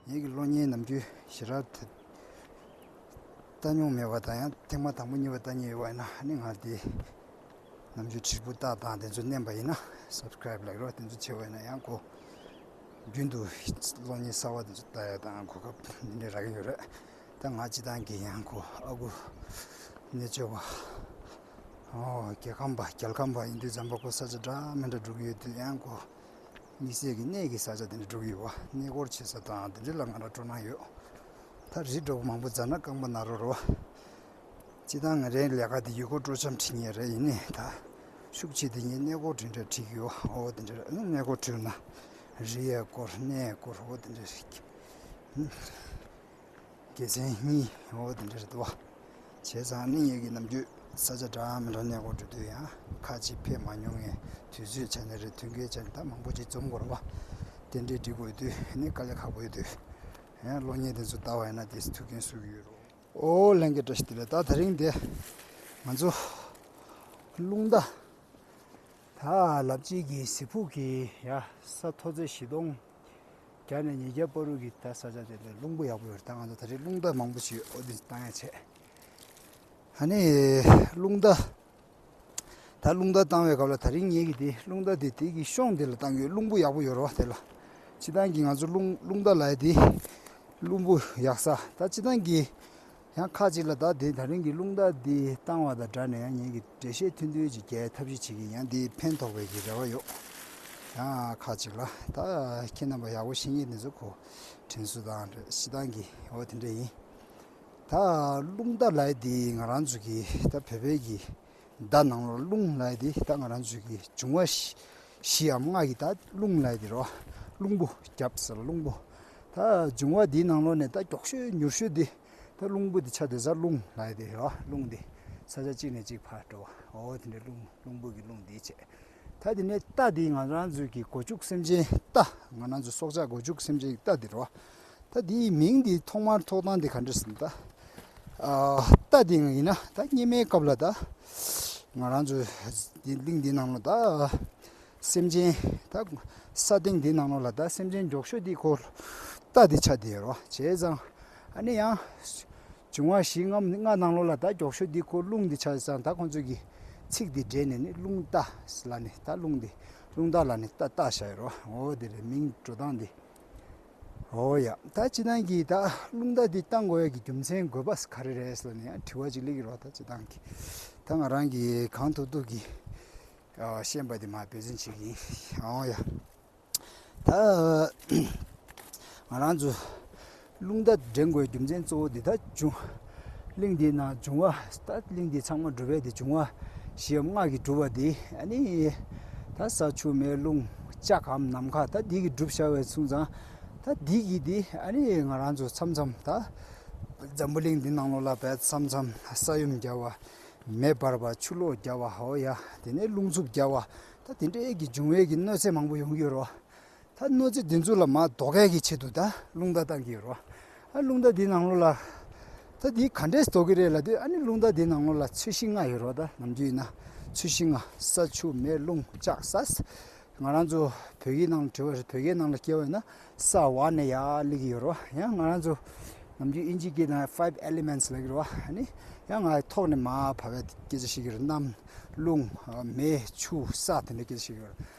ངེད་ཀྱི་གློག་བརྙན་ནམ་རྒྱུན་ཞེ་དྲག་དེ་བལྟ་མྱོང་མེད་པ་དང་ཡང་ཐེངས་མ་དང་པོ་གཉིས་པ་བལྟ་ཉེན་ཡོད་པ་ཡིན་ན་ཨ་ནི་ང་དེ་ནམ་རྒྱུན་བྲིས་སྤུ་བལྟ་སྟངས་དེ་ཚོ་བསྣན་པ་ཡིན་ན Subscribe Like རོགས་དེ་ཚོ་བྱེད་འོས་ན་ཡང་གོ། རྒྱུན་དུ་གློག་བརྙན་གསར་བ་དེ་ཚོ་བལྟ་ཡག་དང་གོ་སྐབས་འདི་འདྲའི་རག་གིན་ཡོད་རེད་ད་ང་སྤྱི་བཏང་གིན་ཡང་གོ་ཨ་ཁུ་རྣལ་འབྱོར་པ། རྒྱལ་ཁམས་པ་རྒྱལ་ཁམས་པ་ཡིན་དུས་འཇམ་པ་པོ་ས་ཆ་འདྲ་མི་འདྲ་འགྲོ་གི་ཡོད་དུས་ཡང་དགོས། དམིགས་བསལ་གྱི་གནས་ཀྱི་ས་ཆ་དེ་འདྲ་འགྲོ་གི་ཡོད་བ་གནས་སྐོར་བྱེད་ས་དང་དེ་འདྲ་ལ་ང་རང་སྤྲོ་སྣང་ཡོད། ད་རི་འགྲོ་བ་མང་པོ་མཛའ་ན་རྐང་པ་ན་རོ་རོ། སྤྱི་བཏང་ང་རའི་ལས་ཀ་དེ་ཡུལ་སྐོར་སྤྲོ་འཆམ་བྲིས་ངེས་རེད་ཡིན་ནི་ད་ཤུགས་ཆེ་དེ་ངས་གནས་སྐོར་དེ་འདྲ་བྲིས་ཡོད་བ་འོ་དེ་འདྲ་གནས་སྐོར་བྲིས་ན་རི་ཡས་སྐོར་གནས་སྐོར་འོ་དེ་འདྲ། དགེ་མཚན་གཉིས་འོ་དེ་འདྲ་རེད་དོ། བྱས་ཙང་གླིང་ཡས་ཀྱི་ནམ་རྒྱུན་ས་ཆ་འདྲ་མི་འདྲ་ནས་སྒོར་འགྲོ་དུས་ཡང་ཁ་གཅིག་ཕེབས་མ་མྱོང་ངས་དུས་ཚོད་ཆ་ནས་རེ་ཐུགས་འགལ་བྱས་ནས་ད་མང་པོ་ཅིག་རྩོམ་སྐོར་བ་དེ་འདྲས་འབྲི་དགོས་དུས་ནི་དཀའ་ལས་ཁག་པོ་ཡོད་དུས། ཡང་གློག་བརྙན་དེ་ཚོ་བལྟ་བ་ཡིན་ན་དེས་ཐུགས་འགན་གསོ་གི་ཡོད་རོ། ཨོ་ལྷན་རྒྱས་བཀྲ་ཤིས་བདེ་ལེགས་ད་ད་རིང་འདི་ང་ཚོ་རླུང་རྟ་དག་ལབ་བྱེད་ཀྱི་གཟི་ཕུག་གི་ཡ་ས་མཐོ་ཚད་བཞི་སྟོང། རྒྱ་ནས་ཉེ་རྒྱ་པར་རུ་གི་ད་ས་ཆ་དེ་ལས་རླུང་བུ་ཡག་པོ་ཡོད་ད་ང་ཚོ་ད་རེས་རླུང་རྟ་མང་པོ་ཞིག་ཡོད་ཨོ་དེ་བཏང་ཡ་བྱས། ད་ནི་རླུང་རྟ་ད་རླུང་རྟ་བཏང་བའི་སྐབས་ལ་ད་རིང་ངེད་ཀྱིས་དེ་རླུང་རྟ་དེ་དེ་གི་གཤོངས་དེ་ལ་བཏང་གི་རླུང་བུ་ཡག་པོ་ཡོད་རོགས་དེ་ལ་སྤྱི་བཏང་གི་ང་ཚོ་རླུང་རླུང་རྟ་ལ་ཡ་དེ་རླུང་བུ་ཡག་ས་ད་སྤྱི་བཏང་གི་ཡང་ཁ་ཅིག་ལ་བདག་བདེ་ཐང་རིང་གི་རླུང་རྟ་འདི་བཏང་བ་དང་སྦྲགས་ནས་ཡང་ཉིད་ཀྱི་འགྲེལ་བཤད་མཐུན་འདོད་ཅིག་རྒྱལ་ཐབས་ཤིག་བྱེད་ཀྱིན་ཡང་འདིས་ཕན་ཐོགས་པའི་གི་རེ་བ་ཡོད། ཡང་ཁ་ཅིག་ལ། ད་ཁྱེད་རྣམ་པ་ཡག་པོ་བཤད་ངེས་དེ་ཚོ་གོ། དྲིན་གཟོ་དང་རེ་ཞིག་དང་གི་འོ་དེ་འདྲ་ཡིན། ད་རླུང་རྟ་ལའི་འདི་ང་རང་ཚོ་གི་ད་བོད་པའི་གི། བརྡ་ནང་ལོར་རླུང་ལྷའི་དེ་ལྟ་ང་རང་ཚོས་ཀྱི་འབྱུང་བ་བཞིའམ་སྔགས་ཀྱི་བརྡ་རླུང་ལྷའི་དེ་རོ། རླུང་བུ་རྒྱབ་ཟེར་རླུང་བུ། ད་འབྱུང་བ་དེའི་ནང་ལོ་ནས་ད་མགྱོགས་ཤོས་མྱུར་ཤོས་དེ་ད་རླུང་བུ་དེ་ཆ་དེ་ས་རླུང་ལྷའི་དེ་རོ་རླུང་དེ་ས་ཆ་གཅིག་ནས་གཅིག་བར་འགྲོ་བ་འོ་དེ་འདྲའི་རླུང་རླུང་བུ་གི་རླུང་དེའི་ཆས། ད་དེ་ནས་རྟ་དེ་ང་རང་ཚོས་ཀྱི་སྒོ་ཕྱུགས་སེམས་ཅན་རྟ་ང་རང་ཚོ་སྲོག་ཆགས་སྒོ་ཕྱུགས་སེམས་ཅན་གྱི་རྟ་དེ་རོ། ད་དེ་ཡི་མིང་འདི་ཐོག་མར་ཐོག་སྟངས་དེ་ག་འདྲ་ཟིན་ད། ད་དེ་ཡིན་ན་ད་སྙེ་མའི་སྐབས་ལ་ད། ང་རང་ཚོ་དེ་གླིང་འདི་ནང་ལོ་ད། སེམས་ཅན་ད་ས་སྟེང་འདི་ནང་ལོ་ལ་ད་སེམས་ཅན་འཇོག་ཤོས་དེ་ཁོ། ད་དེ་ཆ་དེ་ཡིན་རོ་བྱས་ཙང། ཨ་ནེ་ཡང། བྱུང་བ་བཞི་ལྔ་ལྔ་སྣང་ལོ་ལ་ད་འཇོག་ཤོས་དེ་ཁོ་རླུང་དེ་ཆ་ཙང་ད་ཁོ་ཚོས་ཀྱི། ཚིག་དེ་སྦྲེལ་ནས་ནི་རླུང་རྟ་ལ་ནི་ད་རླུང་དེ། རླུང་རྟ་ལ་ནི་ད་རྟ་བྱ་ཡི་རོ་འོ་དེ་རེད་མིང་འགྲོ་སྟངས་དེ། ཨོ་ཡ། ད་ཅི་སྟངས་ཀྱིས་ད་རླུང་རྟ་འདི་གཏང་དགོས་ཡ་གི་རྒྱུ་མཚན་དགོས་པ་ག་རེ་རེད་ཟེར་ནས་ཡང་དྲི་བ་ཅིག་གླེགས་རོགས་ད་ཅི་སྟངས་ཀྱིས་ད་ང་རང་གིས་གང་ཐུབ་ཐུབ་ཀྱིས་ཤེས་པ་དེ་མ་འབད་བརྩོན་བྱེད་ཀྱི་ཡིན། ཨོ་ཡ། ད། ང་རང་ཚོ་རླུང་རྟ་འདྲེན་དགོས་རྒྱུ་མཚན་གཙོ་བོ་འདི་དག་འབྱུང། གླིང་འདི་ན་འབྱུང་བ་ལྟ་གླིང་འདི་ཚང་མ་འགྲུབ་པས་འདི་འབྱུང་བ་ཞེས་སྔགས་ཀྱིས་བསྒྲུབ་པ་འདི་ནི། ད་ས་ཆུ་མེ་རླུང་ལྕགས་ཁམས་ནམ་མཁའ་ད་འདི་གིས་བསྒྲུབ་བྱ་བའི་ཚུལ་ཚང། ད་འདི་གིས་འདི་ང་རང་ཚོ་འཆམ་འཆམ་ད། འཛམ་བུ་གླིང་འདི་ནང་ལོག་ལ་བས་འཆམ་འཆམ་ས་ཡོམ་བརྒྱ་བ། མེ་འབར་བ་ཆུ་ལོག་བརྒྱ་བ་ཧོ་ཡ་དེ་ནས་རླུང་འཚུབ་བརྒྱ་བ། ད་འདི་འདྲའི་ཡས་ཀྱི་འབྱུང་བས་ཀྱི་གནོད་འཚེ་མང་པོ་ཡོང་གི་ཡོད་རོ། ད་གནོད་འཚེ་འདི་ཚོ་ལ་མ་ཟློག་གལ་གྱི་ཆེད་དུ་ད་རླུང་རྟ་བཏང་གི་ཡོད་རོ། ཨ་རླུང་རྟ་འདི་ནང་ལོ་ལ། ད་འདི་ག་འདྲས་ཟློག་གི་རེད་ལ་དུས་ཨ་ནི་རླུང་རྟ་འདི་ནང་ལོ་ལ་ཚོས་ཤིང་ལྔ་ཡོད་རོ་ད་ནམ་རྒྱུན་ཡིན་ན་ཚོས་ཤིང་ལྔ་ས་ཆུ་མེ་རླུང་ལྕགས་ས་ས། ང་རང་ཚོ་བོད་ཀྱི་ནང་ལ་བྲོས་པ་རེད་བོད་ཀྱི་ནང་ལ་སྐྱེ་བ་ཡིན་ན་ས་བ་ནས་ཡར་སླེབས་ཀྱི་ཡོད་རོ་ཡང་ང་རང་ཚོ་ནམ་རྒྱུན་དབྱིན་ཇི་སྐད་ན five elements ལབ་ཀྱི་རོ་ཨ་ནི་ཡང་ང་ཐོག་ནས་མ་བབས་པའི་སྐད་ཆ་བཤད་ཀྱི་རེད་གནམ། རླུང། མེ། ཆུ། ས་དེ་འདྲའི་སྐད་ཆ་བཤད་ཀྱི་ཡོད་རེད།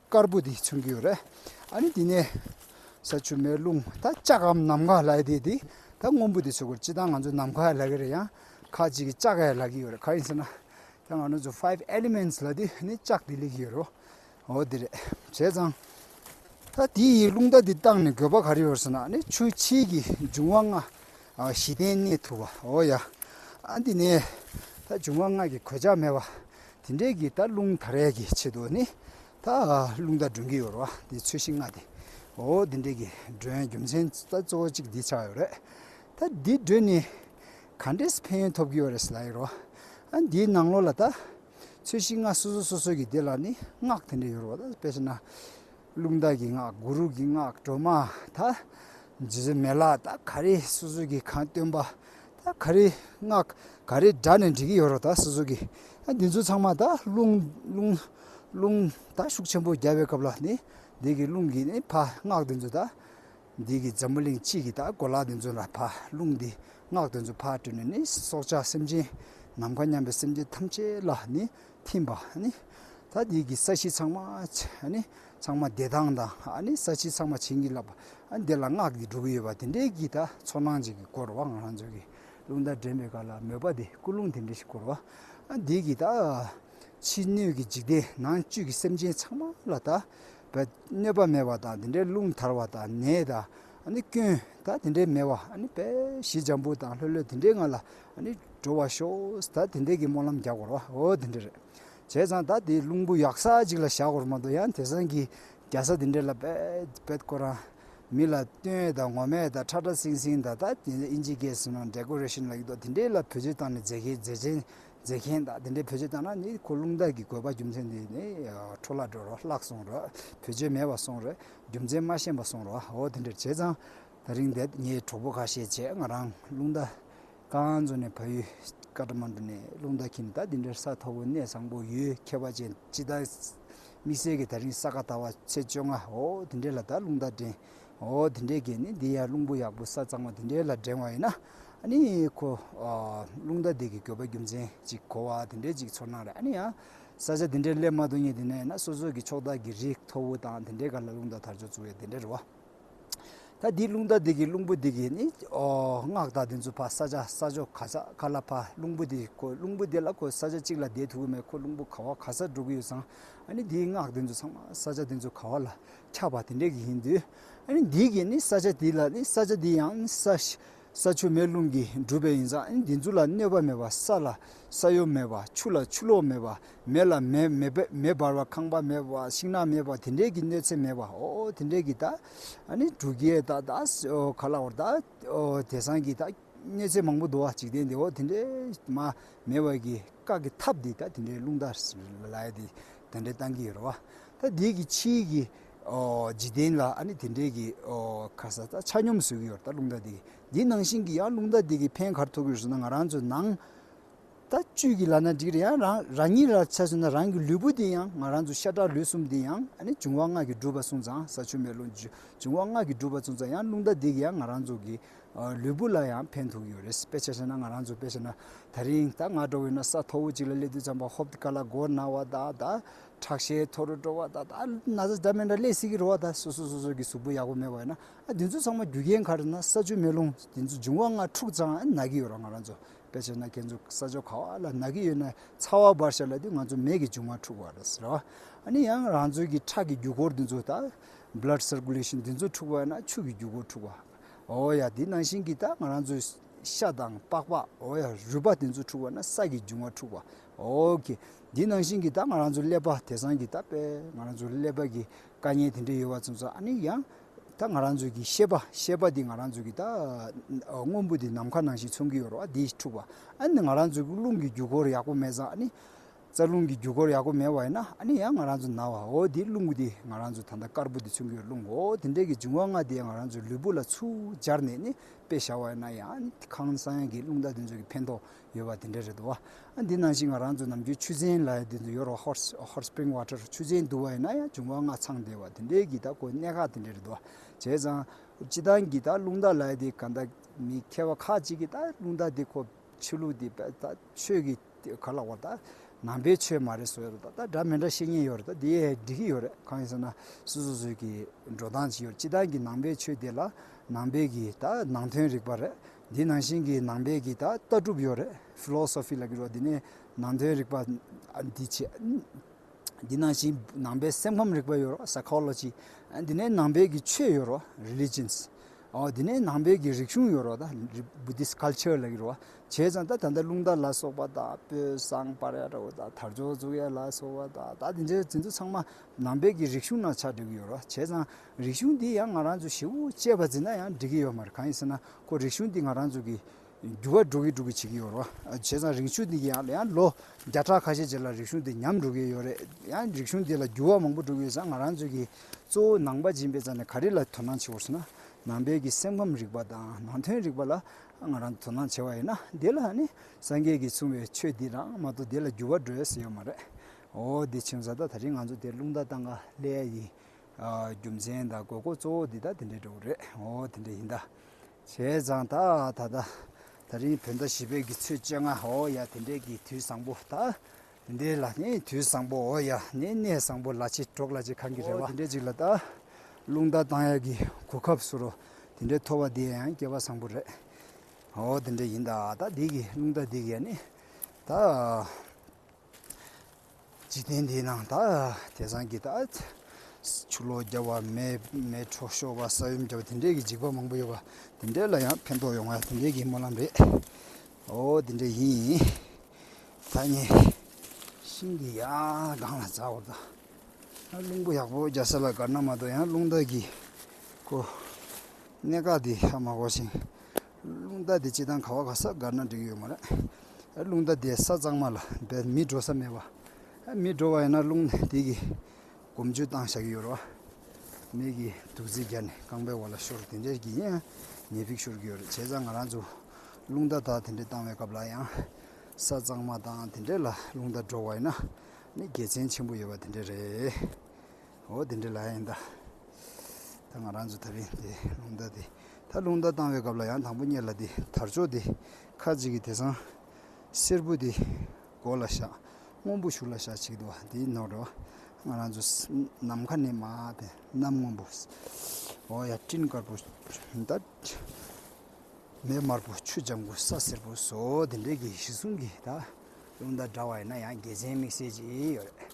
དཀར་པོ་དེ་མཚོན་གྱི་ཡོད་རེད། ཨ་ནི་དེ་ནས་ས་ཆུ་མེ་རླུང་ད་ལྕགས་ཨམ་ནམ་མཁའ་ལགས་དེ་དེ་ད་སྔོན་པོ་དེ་ཆོག་གི་སྤྱི་དང་ང་ཚོ་ནམ་མཁའ་ལགས་གི་རེད་ཡང་ཁག་ཅིག་གི་ལྕགས་ཡ་ལགས་གི་ཡོད་རེད་ག་ཡིན་ཟེར་ན་ད་ང་ནུ་ཚོ five elements ལ་དེ་ནི་ལྕགས་དེ་ལེགས་གི་ཡོད་རེད་འོ་དེ་རེད་བྱས་ཙང་ད་དེ་ཡི་རླུང་རྟ་དེ་བཏང་ནས་དགོས་པ་ག་རེ་ཡོད་ཟེར་ན་ཨ་ནི་ཆུ་ཕྱིའི་གི་འབྱུང་བ་ལྔ་བཞི་ལྡན་གནས་ཐུབ་པ་འོ་ཡ་ཨ་འདི་ནས་ད་འབྱུང་བ་ལྔ་གི་གོད་ཆག་མེད་པ་དེ་འདྲའི་གི་ད་རླུང་ད་རས་གི་ཆེད་དུ་ནི། ད་རླུང་ད་སྒྲོན་གི་ཡོད་རོ་དེ་ཚུལ་བཞིན་ང་དེ། འོ་དེ་འདྲའི་གི་སྒྲོན་རྒྱུ་མཚན་ད་གཙོ་བོ་གཅིག་འདི་ཆགས་ཡོད་རེད། ད་འདི་སྒྲོན་ནི། ག་འདྲས་ཕན་ཡོན་ཐོབ་གི་ཡོད་རེད་ཟེར་ལ་ཡིན་རོ། ཨ་འདིའི་ནང་ལོགས་ལ་ད། ཚུལ་བཞིན་ང་སོ་སོ་སོ་སོའི་གི་དེ་ལ་ནི་སྔགས་དེ་འདྲས་ཡོད་རོ་ད་དཔེ་ཆ་ན། ཀླུ་མདའ་གྱི་སྔགས་གུ་རུ་གྱི་སྔགས་སྒྲོལ་མ་དང། རྗེ་བཙུན་མེ་ལ་དང་ག་རེ་སོ་སོ་གྱིས་གང་བཏོན་པ་དང་ག་རེ་སྔགས་ག་རེ་སྦྲགས་ནས་འབྲི་གི་ཡོད་རོགས་ད་སོ་སོ་གྱིས་འདི་ཚོ་ཚང་མ་དང་རླུང་རླུང་རླུང་དང་ཤུགས་ཆེན་པོ་རྒྱབ་པའི་སྐབས་ལ་ནི་འདི་གི་རླུང་གིས་ནི་ཕ་སྔགས་འདི་ཚོ་དང། འདི་གི་འཛམ་བུ་གླིང་སྤྱི་གི་དང་གོ་ལ་འདི་ཚོ་ལ་ཕ་རླུང་འདིས་སྔགས་འདི་ཚོ་ཕ་སྤྲོས་ནས་ནི་སྲོག་ཆགས་སེམས་ཅན་ནམ་མཁའ་མཉམ་པའི་སེམས་ཅན་ཐམས་ཅད་ལ་ནི་ཐིམ་པ། ད་ནི་ཀྱི་ས་གཞི་ཚང་མ། ཚང་མ་བདེ་ཐང་དང། ས་གཞི་ཚང་མ་བྱིན་གྱིས་བརླབས་པ། འདི་ལ་སྔགས་འདི་འབྲུ་གུ་ཡོད་པ་དེ་འདྲའི་གྱིས་ད་ཚོར་སྣང་ཅན་གྱིས་བསྐོར་བ་ང་རང་ཚོའི་གྱི་རླུང་རྟ་འདྲེན་པའི་གར་ལ་མོས་པ་དེ་ཀུན་རླུང་དེ་འདྲ་ཞིག་བསྐོར་བ། འདི་ཀྱིས་ད། ཕྱི་སྣོད་ཀྱི་འཇིག་རྟེན་ནང་བཅུད་ཀྱི་སེམས་ཅན་ཚང་མ་ལ་ད། གནོད་པ་མེད་པ་དང་དེ་འདྲའི་རླུང་དར་བ་དང་ནད་དང། སྐྱོན་ད་དེ་འདྲའི་མེད་བ་བས་ཞེས་འཇམ་པོ་དང་ལྷོད་ལྷོད་དེ་འདྲའི་ངང་ལ་འགྲོ་བར་ཤོག་ད་དེ་འདྲའི་གི་སྨོན་ལམ་རྒྱག་གོ་རོགས་ཨོ་དེ་འདྲ་རེད་བྱས་ཙང་ད་དེ་རླུང་བུ་ཡག་ས་ཅིག་ལ་བཞག་གོ་རོགས་མ་དོ་ཡང་དེ་སང་གི་རྒྱ་ས་དེ་འདྲའི་ལ་བེད་བེད་ཁོ་རང་མི་ལ་སྟོན་ཨེ་དང་ངོ་མས་དང་ཁྲ་ཁྲ་སིང་སིང་དང་ད་དེ་འདྲའི་ཨིན་ཇི་གས་སིན་ནོ་འདྲེ་ཀོ་རེ་ཤིན་ལ་ཡིག་ཏོག་དེ་འདྲའི་ལ་བེད་སྤྱོད་བཏང་ནས་མཛེས་མཁན་མཛེས་མཁན་མཛེས་མཁན་ད་དེ་འདྲའི་བེད་སྤྱོད་བཏང་ན་ནི་ཁོ་རླུང་རྟ་གི་དགོས་པ་རྒྱུ་མཚན་དེ་ནི་འཕྲོ་བརླག་འགྲོ་རོགས་བརླག་སོང་རོགས་བེད་སྤྱོད་མེད་བ་སོང་རོགས། རྒྱུ་མཚན་མ་ཤེས་པ་གསུང་རོགས་ཨོ་དེ་འདྲར་བྱས་ཙང་ད་རིང་འདས་ངའི་གྲོགས་པོ་ཁ་ཤས་བྱས་ང་རང་རླུང་རྟ་ཀ་འཛོ་ནས་ཕ་ཡུལ་ཀ་བྲ་མ་འགྲོ་ནས་རླུང་རྟ་ཁྱིམ་ད་དེ་འདྲར་ས་མཐོ་བོ་གནས་བཟང་པོ་ཡུལ་ཁྱད་པ་ཅན་སྤྱི་ད་དམིགས་བསལ་གྱི་ད་རིང་ས་ག་ད་བ་ཚེས་བཅོ་ལྔ་ཨོ་དེ་འདྲའི་ལ་ད་རླུང་རྟ་འགྲེང་ཨོ་དེ་འདྲའི་གས་ནི་འདི་ཡ་རླུང་བུ་ཡག་པོ་ས་གཙང་བ་དེ་འདྲའི་ལ་འགྲེང་བ་ཡིན་ན་ཨ་ནི་ཁོ་རླུང་རྟ་འདེགས་ཀྱི་དགོས་པ་རྒྱུ་མཚན་ཅིག་གོ་བ་དེ་འདྲའི་ཅིག་ཚོར་སྣང་རེད་ཨ་ནི་ཡང། ས་ཆ་དེ་འདྲའི་སླད་མ་དུ་ཉིད་དེ་ནས་ན་སོ་སོ་གི་ཕྱོགས་དག་གི་རི་མཐོ་བོ་དང་དེ་འདྲའི་གར་ལ་རླུང་དག་དར་ལྕོག་བཙུགས་བས་དེ་འདྲའི་རི་བ། ད་འདིའི་རླུང་དག་དེ་གི་རླུང་བུ་དེ་གི་ནི་སྔགས་དག་དེ་ཚོ་ཕ་ས་ཆ་ས་ཕྱོགས་ག་ས་ག་ལ་ཕ་རླུང་བུ་དེ་ཁོ་རླུང་བུ་དེ་ལ་ཁོ་ས་ཆ་གཅིག་ལ་བསྡད་ཐུབ་ཀྱི་མེད་ཁོ་རླུང་བུ་ག་བ་ག་སར་འགྲོ་གི་ཡོད་ཙང་ཨ་ནི་འདིའི་སྔགས་དེ་ཚོ་ཚང་མ་ས་ཆ་དེ་ཚོ་ག་བ་ལ་ཁྱབ་པ་དེ་འདྲའི་གི་ཡིན་དུས་ཨ་ནི་འདིའི་གི་ནི་ས་ཆ་དེ་ལ་ནི་ས་ཆ་དེ་ཡང་ནི་ས་ཤི་ས་ཆུ་མེ་རླུང་གིས་གྲུབ་པའི་ཡིན་ཙང་འདི་ཚོ་ལ་གནོད་པ་མེད་པ་ས་ལ་ས་གཡོ་མེད་པ་ཆུ་ལ་ཆུ་ལོག་མེད་པ་མེ་ལ་མེ་འབར་བ་ཁང་པ་མེད་པ་ཤིང་ནགས་མེད་པ་དེ་འདྲའི་གི་གནོད་འཚེ་མེད་པའོ་དེ་འདྲའི་གི་ད་ནི་འབྲུག་རྒྱལ་ད་ག་ལ་བར་ད་དེ་སང་གི་ད་གནོད་འཚེ་མང་པོ་འདུག་བ་འཇིག་རྟེན་འདིའོ་དེ་འདྲའི་མ་མེད་པ་གི་བཀག་གི་ཐབས་འདི་ད་དེ་འདྲའི་རླུང་ལྟར་ལ་ཡ་དེ་འདྲའི་བཏང་གི་ཡོད་རེད་བ་ད་འདི་གི་ཕྱིའི་གི། འཇིག་རྟེན་ལ་ཨ་ནི་དེ་འདྲའི་གི་ཁ་ས་ཆ་སྙོམས་བཟོས་གི་ཡོད་རེད་ད་རླུང་རྟ་འདི་གི་འདི་ནང་བཞིན་གི་ཡང་རླུང་རྟ་འདི་གི་ཕན་གར་ཐུག་གི་ཡོད་ཟེར་ན་ང་རང་ཚོ་ནང་ད་བཅུད་གི་ལ་ན་འགྲིག་རེད་ཡང་རང་རང་ཉིད་ལ་བྱས་ཟེར་ན་རང་གི་ལུས་པོ་འདི་ཡང་ང་རང་ཚོ་ཤ་ཁྲག་ལུས་གསུམ་འདི་ཡང་ཨ་ནི་འབྱུང་བ་སྔགས་ཀྱིས་བསྒྲུབས་པ་སོང་ཙང་ས་ཆུ་མེ་རླུང་འབྱུང་བ་སྔགས་ཀྱིས་བསྒྲུབས་པ་སོང་ཙང་ཡང་རླུང་རྟ་འདི་གི་ཡང་ང་རང་ཚོ་གི་ལུས་པོ་ལ་ཡང་ཕན་ཐུག་གི་ཡོད་རེད་དཔེ་ཆ་བྱས་ན་ང་རང་ཚོ་དཔེ་བྱས་ན་ད་རིང་ད་ང་འགྲོ་བའི་ན་ས་མཐོ་བོ་ཅིག་ལ་སླེབས་དུས་ཙང་པ་ཧོབ་ཏི་ཀ་ལ་སྒོ་ན་བ་དང་ད་ཁྲག་ཤེད་མཐོ་རུ་འགྲོ་བ་དང་ད་ན་ཟ་སྦྱར་མེ་འདྲ་ཀླད་སིག་གི་རོ་བ་དང་སོ་སོ་སོ་སོ་གི་གཟུགས་པོ་ཡག་པོ་མེད་པ་ཡིན་ན་ཨ་དེ་ཚོ་ཚང་མ་རྒྱུ་རྐྱེན་ག་རེ་ན་ས་ཆུ་མེ་རླུང་དེ་ཚོ་འབྱུང་བ་ལྔ་འཁྲུག་ཙང་ཨ་ན་གི་ཡོད་ར་ང་རང་ཚོ་དཔེ་བྱས་ན་ཁྱེད་ཚོ་ས་ཕྱོགས་ག་བ་ལ་ན་གི་ཡོད་ན་ཚ་བ་འབར་ཤ་ལ་དུས་ང་ཚོ་མེ་གི་འབྱུང་བ་འཁྲུག་བ་རེད་ཟེར་ར་ཨ་ནི་ཡང་རང་ཚོའི་གི་ཁྲག་གི་རྒྱུ་འཁོར་དེ་ཚོ་ད Blood Circulation དེ་ཚོ་འཁྲུག་བ་ཡིན་ན་ཆུ་གི་རྒྱུ་འཁོར་འཁྲུག་བ་འོ་ཡ་དེ་ནང་བཞིན་གི་ད་ང་རང་ཚོའི་ཤ་དང་པགས་པ་འོ་ཡ་རུས་པ་དེ་ཚོ་འཁྲུག་བ་ན་ས་གི་འབྱུང་བ་འཁྲུག་བ་ཨོའོ། འདི་ནང་བཞིན་གྱི་ད་ང་རང་ཚོ་ཀླད་པ་དེ་སང་གི་ད་དཔེ་ང་རང་ཚོ་ཀླད་པ་གི་དཀའ་ཉེན་དེ་འདྲ་ཡོད་བ་ཚོ་ཚོ་ཨ་ནི་ཡང་ད་ང་རང་ཚོ་གི་ཤེས་པ་ཤེས་པ་འདི་ང་རང་ཚོ་གི་ད་དངོས་པོ་འདི་ནམ་མཁའ་ནང་བཞིན་མཚུངས་ཀྱི་ཡོད་རེད་བ་འདིས་འཁྲུགས་པ་ཨ་ནི་ང་རང་ཚོ་གི་རླུང་གི་རྒྱུ་འཁོར་ཡག་པོ་མེད་ཙང་ཨ་ནི་རྩ་རླུང་གི་རྒྱུ་འཁོར་ཡག་པོ་མེད་བ་ཡིན་ན་ཨ་ནི་ཡང་ང་རང་ཚོ་ན་བ་ཨོའོ་འདི་རླུང་འདི་ང་རང་ཚོ་ད་ལྟ་དཀར་པོ་འདི་མཚུངས་ཀྱི་ཡོད་རླུང་ཨོའོ་དེ་འདྲའི་གི་འབྱུང་བ་ལྔ་དེ་ང་རང་ཚོའི་ལུས་པོ་ལ་ཚུར་སྦྱར་ནས་ནི་དཔེ་བཞག་བ་ཡིན་ན་ཡང་ཁང་བཟང་ཡང་གི་རླུང་རྟ་དེ་ཚོ་གི་ཕན་ཐོགས་ཡོད་པ་དེ་འདྲ་རེད་འདུག་བ། འདི་ནང་བཞིན་ང་རང་ཚོ་ནམ་རྒྱུན་ཆུ་ཚན་ལ་དེ་ཚོ་ཡོད་རེད་བ Hot Hot Spring Water ཆུ་ཚན་བསྡུ་བ་ཡིན་ན་ཡང་བྱུང་བ་སྔ་ཚང་དེ་བ་དེ་འདྲའི་གི་ད་དཀོན་གནད་ཁག་དེ་འདྲ་རེད་འདུག་བ། བྱས་ཙང། སྤྱི་བཏང་གི་ད་རླུང་རྟ་ལ་དེ་ག་ད་མི་མཁས་བ་ཁག་ཅིག་གི་ད་རླུང་རྟ་དེ་ཁོ་ཆོས་ལུགས་དེ་པད་ད་ཆོས་གི་དེ་ག་ལ་བ་ད་ནང་པའི་ཆོས་མ་རེད་བཟོ་རེད་ད་འདྲ་མི་འདྲ་བཤད་ཉེན་ཡོད་རེད་ད་དེ་འགྲིག་གི་ཡོད་རེད་གང་ཡིན་ཟེར་ན་སུ་སུ་སུ་གི་འགྲོ་སྟངས་ཅི་ཡོད་སྤྱི་བཏང་གི་ནང་པའི་ཆོས་དེ་ལ་ནང་པའི་གི་ད་ནང་དོན་རིག་པ་རེད་འདི་ནང་བཞིན་གྱི་ནང་པའི་གི་ད་ལྟ་གྲུབ་ཡོད་རེད Philosophy ལ་བསྒྱུར་བ་འདི་ནས་ནང་དོན་རིག་པ་འདི་བྱས། འདི་ནང་བཞིན་ནང་པའི་སེམས་ཁམས་རིག་པ་ཡོད་རོགས Psychology འདི་ནས་ནང་པའི་གི་ཆོས་ཡོད་རོགས Religions འདི་ནས་ནང་པའི་གི་རིག་གཞུང་ཡོད་རོགས་ད Buddhist Culture ལ་བསྒྱུར་བ་བྱས་ཙང་ད་ད་ལྟ་ཀླུང་རྟ་ལ་སོགས་པ་ད་དཔོན་བཟང་པར་ཡ་ད་ད་དར་ལྕོག་བཙུགས་ཡ་ལ་སོགས་པ་ད་ད་འདི་འདྲའི་དེ་ཚོ་ཚང་མ་ནང་པའི་གི་རིག་གཞུང་ནང་ཆགས་འགྲོ་གི་ཡོད་རོགས་བྱས་ཙང། རིག་གཞུང་འདི་ཡང་ང་རང་ཚོ་ཞི་བོ་གཅེས་པ་འཛིན་ན་ཡང་འགྲིག་གི་ཡོད་མ་རེད་གང་ཡིན་ཟེར་ན་ཁོ་རིག་གཞུང་འདི་ང་རང་ཚོ་གི་འགྱུར་བ་འགྲོ་གི་འགྲོ་གི་བྱེད་ཀྱི་ཡོད་རོ་བྱས་ཙང་རིག་གཞུང་འདི་ཡང་ཡང་ལོ་བརྒྱ་ཕྲག་ཁ་ཤས་རྗེས་ལ་རིག་གཞུང་འདི་ཉམས་འགྲོ་གི་ཡོད་རེད་ཡང་རིག་གཞུང་འདི་ལ་འགྱུར་བ་མང་པོ་འགྲོ་གི་ཡོད་ཙང་ང་རང་ཚོ་གི་གཙོ་བོ་ནང་པ་སྦྱིན་པའི་རྩ་ནས་ག་རེ་ལ་དོ་སྣང་བྱེད་དགོས་ཟེར་ན་ནང་པའི་གི་སེམས་ཁམས་རིག་པ་དང་ནང་དོན་རིག་པ་ལ་ང་རང་དོ་སྣང་བྱེད་པ་ཡིན་ན་དེ་ལ་ནི་སངས་རྒྱས་ཀྱིས་གསུངས་པའི་ཆོས་འདི་དང་མ་གཏོགས་དེ་ལ་འགྱུར་བ་འགྲོ་ཡ་ཟེར་ཡོད་མ་རེད་འོ་དེ་ཆུང་ཟ་ད་ད་རིང་ང་ཚོ་དེ་རླུང་རྟ་བཏང་ག་ལེ་ཡ་ཡིན། རྒྱུ་མཚན་དང་དགོས་མཁོ་གཙོ་བོ་འདི་དག་དེ་འདྲའི་འགྲོ་གི་རེད་འོ་དེ་འདྲ་ཡིན་ད། བྱས་ཙང་ད་ད་ལྟ་ད་རིང་བོད་ཟླ་བཞི་པའི་གི་ཚོད་བཅད་ང་འོ་ཡ་དེ་འདྲའི་གི་དུས་བཟང་པོ་ད། དེ་འདྲའི་ལ་ནི་དུས་བཟང་པོ་འོ་ཡ་ནི་གནས་བཟང་པོ་ལ་ཆེ་གྲོགས་ལ་ཆེ་གང་གི་རེ་བ། འོ་དེ་འདྲའི་ཅིག་ལ་ད། རླུང་རྟ་བཏང་ཡ་གི་གོ་སྐབས་སུ་རོ་དེ་འདྲའི་ཐོ་བ་འདི་ཡ་ཡང་སྐྱེ་བ་བཟང་པོ་རེད་འོ་དེ་འདྲ་ཡིན་ད་ད་འདི་གི་རླུང་རྟ་འདི་གི་ཡ་ནི་ད། འཇིག་རྟེན་འདིའི་ནང་ད་དེ་སང་གི་ད་ཆུ་ལོག་རྒྱབ་བ་མེ་འཕྲོག་ཤོར་བ་ས་ཡོམ་རྒྱབ་བ་དེ་འདྲས་ཀྱི་འཇིགས་པ་མང་པོ་ཡོད་པ་དེ་འདྲས་ལ་ཡང་ཕན་ཐོགས་ཡོང་བ་དེ་འདྲས་ཀྱི་སྨོན་ལམ་རེད། ཨོ་དེ་འདྲས་ཡིན་ཡིན་ད་ངས་ཤིང་གི་ཡང་སྒང་ལ་འཛག་བར་དང་ཡང་རླུང་བུ་ཡག་པོ་རྒྱག་ས་ལ་དགར་ན་མ་གཏོགས་ཡང་རླུང་རྟ་གི་གོ་གནས་ཁག་དེ་ཧ་མ་གོ་ཞིང། རླུང་རྟ་དེ་ཅི་དང་ག་བ་ག་ས་བསྒར་ན་འགྲིག་ཡོད་མ་རེད། རླུང་རྟ་དེ་ས་གཙང་མ་ལ་སྦས་མི་འགྲོ་ས་མེད་པ། མི་འགྲོ་བ་ཡིན་ན་རླུང་དེ་གི་གོམ་ཆུ་བཏང་བཞག་གི་ཡོད་རོ། མིག་གི་དུག་རྫི་རྒྱ་ནས་རྐང་པའི་བར་ལ་ཤོར་དེ་འདྲས་ཀྱི་ཡིན་ཡང་ཉེས་ཕིགས་ཤོར་གི་ཡོད་རེད་བྱས་ཙང་ང་རང་ཚོ་རླུང་རྟ་དག་དེ་འདྲས་བཏང་བའི་སྐབས་ལ་ཡང་ས་གཙང་མ་དང་དེ་འདྲས་ལ་རླུང་རྟ་འགྲོ་བ་ཡིན་ན་ནི་དགེ་མཚན་ཆེན་པོ་ཡོད་པ་དེ་འདྲས་རེད། འོ་དེ་འདྲའི་ལ་ཡིན་ད། ད་ང་རང་ཚོ་ད་རིང་དེ་རླུང་རྟ་དེ་ད་རླུང་རྟ་བཏང་བའི་སྐབས་ལ་ཡང་དང་པོ་གཉེར་ལ་དེ་དར་ལྕོག་དེ་ཁ་ཅིག་གིས་དེ་སང་སེར་བུ་དེ་མགོ་ལ་བཞག་སྔོན་པོ་ཞུ་ལ་བཞག་བྱེད་འདུག་བ་དེའི་ནོར་རེད་བ། ང་རང་ཚོ་ནམ་མཁའ་ནས་མ་དེ་གནམ་སྔོན་པོ། འོ་ཡ་སྤྲིན་དཀར་པོ། ཟླ་མེད་དམར་པོ་ཆུ་ལྗང་གུ་ས་སེར་པོ་ཟོ་དེ་འདྲའི་གི་གཞི་གསུམ་གི་ད་རླུང་རྟ་འདྲ་བ་ཡིན་ན་ཡང་རྒྱལ་ཆེན་དམིགས་བསལ་གྱིས་ཡོད་རེད།